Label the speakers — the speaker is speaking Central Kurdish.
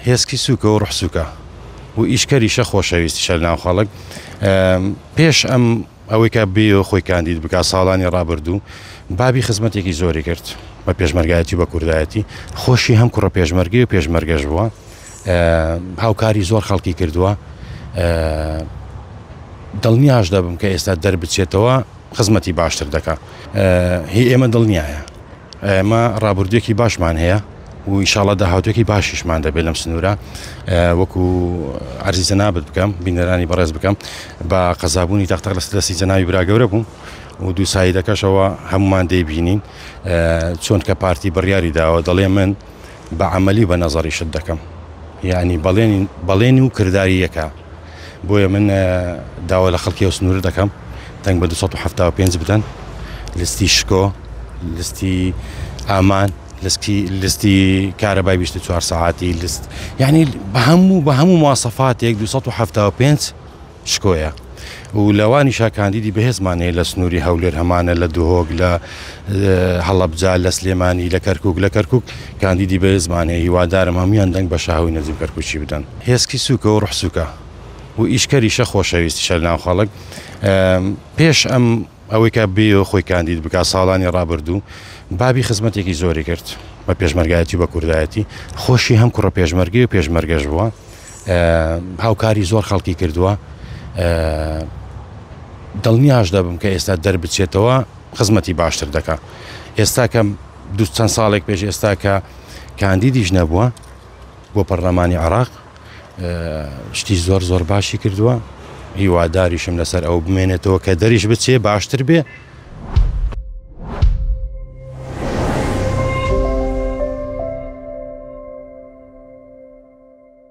Speaker 1: هێسکی سوکە و ڕوح سوکە و ئیشکەریشە خۆشەویستیشە لەناو خەڵک پێش ئەم ئەوەی کە بێ خۆی کاندید بکە ساڵانی ڕابردوو بابی خزمەتێکی زۆری کرد بە پێشمەرگایەتی بە کوردایەتی خۆشی هەم کوڕە پێشمەرگی و پێشمەرگەش بووە هاوکاری زۆر خەڵکی کردووە دڵنیاش دەبم کە ئێستا دەربچێتەوە خزمەتی باشتر دەکە هی ئێمە دڵنیایە ئێمە ڕابردوێکی باشمان هەیە و ئیشاڵا داهاتوێکی باشیشمان دەبێت لەم سنوورە وەکو ئەرزی جەنابەت بکەم بینەرانی بەڕێز بکەم بە قەزابوونی تەختەق لە سدەسی جەناوی براگەورە بوو و دوو سایدەکەشەوە هەمومان دەیبینین چۆن کە پارتی بڕیاری داوە دەڵێ من بە عملی بە نەزەڕی شت دەکەم یعنی بەڵێن و کردداری یەکە بۆیە من داوا لە خەڵکی و سنوور دەکەم دەنگ بە 1970 بدەن لستی شکۆ لستی ئامان لسکی لستی کارەبای بیست و چوار سەعاتی لست یعنی بە هەموو بە هەموو مواسەفاتێک 275 شکۆیە و لەوانی شاکاندیدی بەهێزمانەیە لە سنووری هەولێر هەمانە لە دهۆک لە هەڵەبجا لە سلێمانی لە کەرکک لە کەرکک کاندیدی بەهێزمان هەیە هیوادارم هەمویان دەنگ بە شاهوی نەجیب کەرکوچی بدەن هێسکی سوکە و ڕحسوکە و ئیشکەریشە خۆشەویستیشە ناو خەڵک پێش ئەم ئەوەی کە بێیۆ خۆی کاندید بکات ساڵانی ڕابردوو بابی خزمەتێکی زۆری کرد بە پێشمەرگایەتی و بە کوردایەتی خۆشی هەم کوڕە پێشمەرگی و پێشمەرگەش بووە هاوکاری زۆر خەڵکی کردووە دڵنیاش دەبم کە ئێستا دەربچێتەوە خزمەتی باشتر دەکا ئێستا کەم دو چەند ساڵێک پێش ئێستا کە کاندیدیش نەبووە بۆ پەرلەمانی عراق شتی زۆر زۆر باشی کردووە هیواداریشم لەسەر ئەو بمێنێتەوە کە دەریش بچێ باشتر بێ